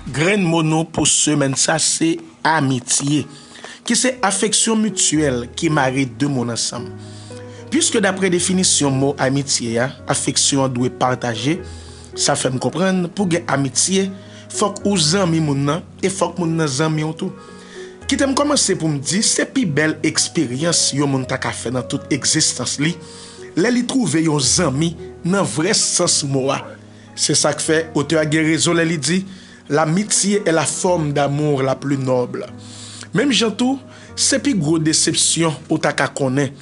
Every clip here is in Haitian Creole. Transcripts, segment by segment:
Grenn mo nou pou semèn sa se amitye, ki se afeksyon mityèl ki mare de moun ansanm. Piske dapre definisyon mo amitye a, afeksyon an dwe pataje, sa fè m konprann pou gen amitye, fòk ou zanmi moun nan e fòk moun nan zanmi w tou. Kite m kòmanse pou m di se pi bèl eksperyans yon moun ta ka fè nan tout egzistans li, lè li twouve yon zanmi nan vrè sans mo a. Se sa k fè, otè a gen rezon lè li di, L'amitié est la forme d'amour la plus noble. Menm jan tou, se pi gwo desepsyon ou ta ka konnen.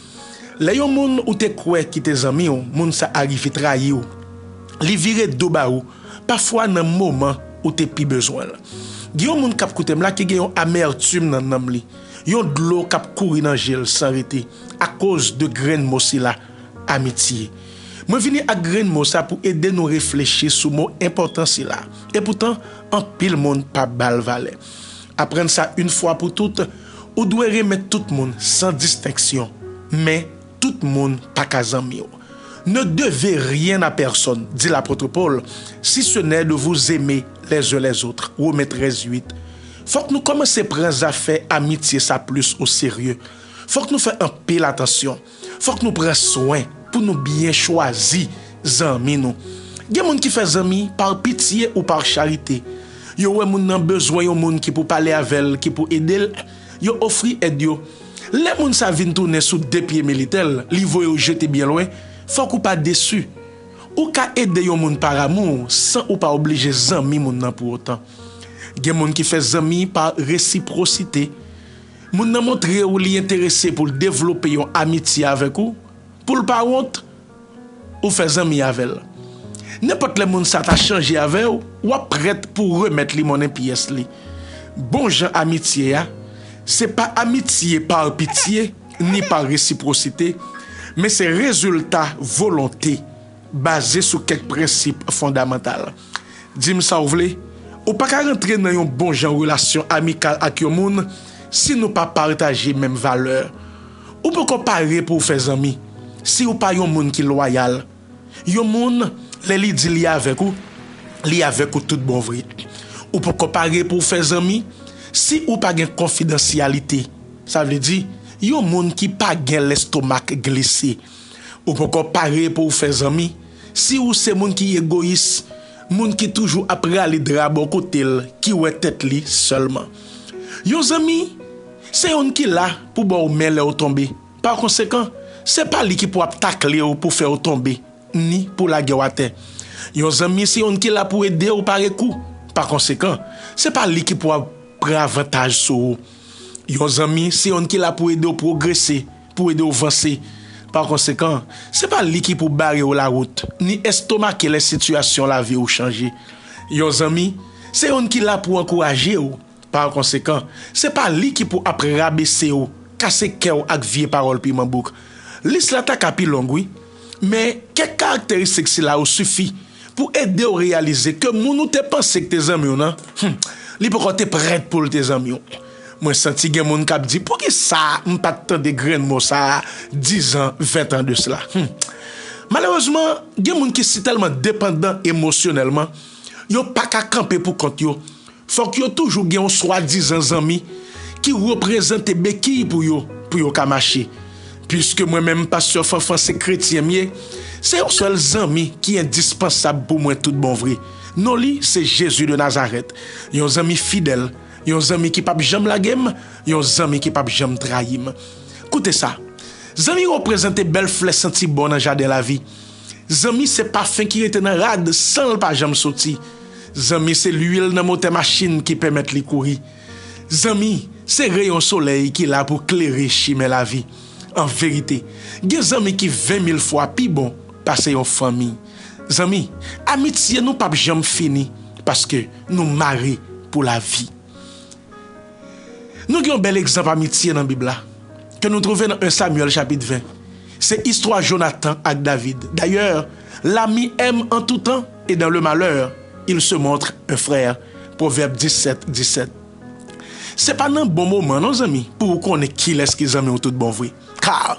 Lè yon moun ou te kwè ki te zanmi w, moun sa a rive trayi w, li vire do ba ou, pafwa nan moman ou te pi bezwen l. Gen yon moun k ap koute m la ki gen yon amèrtim nan nanm li, yon dlo k ap kouri nan je l san rete, akoz de grenn mo sila, amitié. Mwen vini ak grenn mo sa pou ede nou reflechi sou mo enpòtan sila, epoutan anpil moun pa ba l valè. Aprann sa yn fwa pou tout, ou dwe renmen tout moun san distenksyon, men tout moun pa ka zanmi w. Ne devez rien à personne, dit l'apôtre Paul, si ce n'est de vous aimer les uns les autres, Romains 13, 8. Fòk nou kòmanse pran zafè amitye sa plis o serye. Fòk nou fè anpil atansyon. Fòk nou pran swen pou nou byen chwazi zanmi nou. Gen moun ki fè zanmi par pitye ou par charite. Yo wè moun nan bezwen yon moun ki pou pale avè l, ki pou ede l, yo ofri èd yo. Lè moun sa vin tounen sou de pye militè l, li voye w jete byen lwen, fòk ou pa desu. Ou ka ede yon moun par amou san ou pa oblije zanmi moun nan pou otan. Gen moun ki fè zanmi par resiprosite. Moun nan montre ou li enterese pou l devlope yon amitye avèk ou, pou l pa wont ou fè zanmi avè l. Nenpòt lè moun sa ta chanje avè w, w ap prèt pou w remèt li monnen pyès li. Bon jan amitye a, se pa amitye pa pitye ni pa resipwosite, men se rezilta volonte baze sou kèk prensip fondamantal. Di m sa w vle, ou pa ka rantre nan yon bonjan relasyon amikal ak yon moun si nou pa pataje menm valè. Ou poko pare pou w fè zanmi si ou pa yon moun ki lwayal. Yon moun, lè li di li avèk ou, li avèk ou tout bon vre. Ou poko pare pou w fè zanmi si ou pa gen konfidansyalite, sa vle di, yon moun ki pa gen lestomak glise. Ou poko pare pou w fè zanmi. Si ou se moun ki egoyis, moun ki toujou ap rale dra bò kote l, ki wè tèt li sèlman. Yon zanmi, se youn ki la pou ba w men lè ou tonbe. Pa konsekan, se pa li ki pou ap takle w pou fè w tonbe, ni pou lage w atè. Yon zanmi se youn ki la pou ede w pare kou. Pa konsekan, se pa li ki pou ap pran avantaj sou ou. Yon zanmi se youn ki la pou ede w pwogrese. Pou ede w vanse. Pakonsekan, se pa li ki pou bare w lawout, ni estomake lè sitiyasyon lavi w chanje. Yon zanmi, se youn ki la pou ankouraje w. Pakonsekan, se pa li ki pou ap rabese w, kase kè w ak vye pawòl piman bouk. Lis la ta ka pi long, wi. Men, kèk karakteristik sila yo sifi pou ede w reyalize ke moun ou te panse k te zanmi w nan, hum, li poko te prèt pou l te zanmi w. Mwen santi gen moun kap di pouki sa m pat tande grenn mo sa 10 an 20 an de sla humm malerezman gen moun ki si tèlman depandan emosyonèlman yo paka kanpe pou kont yo fòk yo toujou gen yon swadizan zanmi ki reprezante bekiy pou yo pou yo ka mache piske mwen menm pastè Fanfan se kretyen m ye se yon sèl zanmi ki endispansab pou mwen tout bon vre non li se Jezi de Nazarèt yon zanmi fidèl Yon zanmi ki pap janm lage m, yon zanmi ki pap janm trayi m. Koute sa, Zanmi reprezante bèl flè santi bon nan jaden lavi. Zanmi se pafen ki rete nan rad san l pa janm soti. Zanmi se luil nan motè machin ki pèmèt li kouri. Zanmi se reyon solèy ki la pou klere chimen lavi. An verite, gen zanmi ki ven mil fwa pi bon pase yon fanmi. Zanmi, amitye nou pap janm fini paske nou mare pou lavi. Nou gen yon bèl egzanp amitye nan Bib la ke nou twouve nan 1 Samyèl chapit 20. Se istwa Jonatan ak David. Dayè, L'ami aime en tout temps et dans le malheur, il se montre un frère, Pwovèb 17, 17. Se pa nan bon moman non zanmi pou ou konnen kilès ki zanmi w tout bon vre. Kar.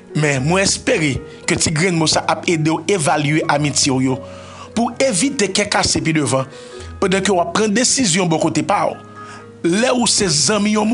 Men, mwen espere ke ti grenn mo sa ap ede w evalye amitye w yo pou w evite kè kase pi devan pandan ke w ap pran desizyon bò kote pa w. Lè ou se zanmi yon moun.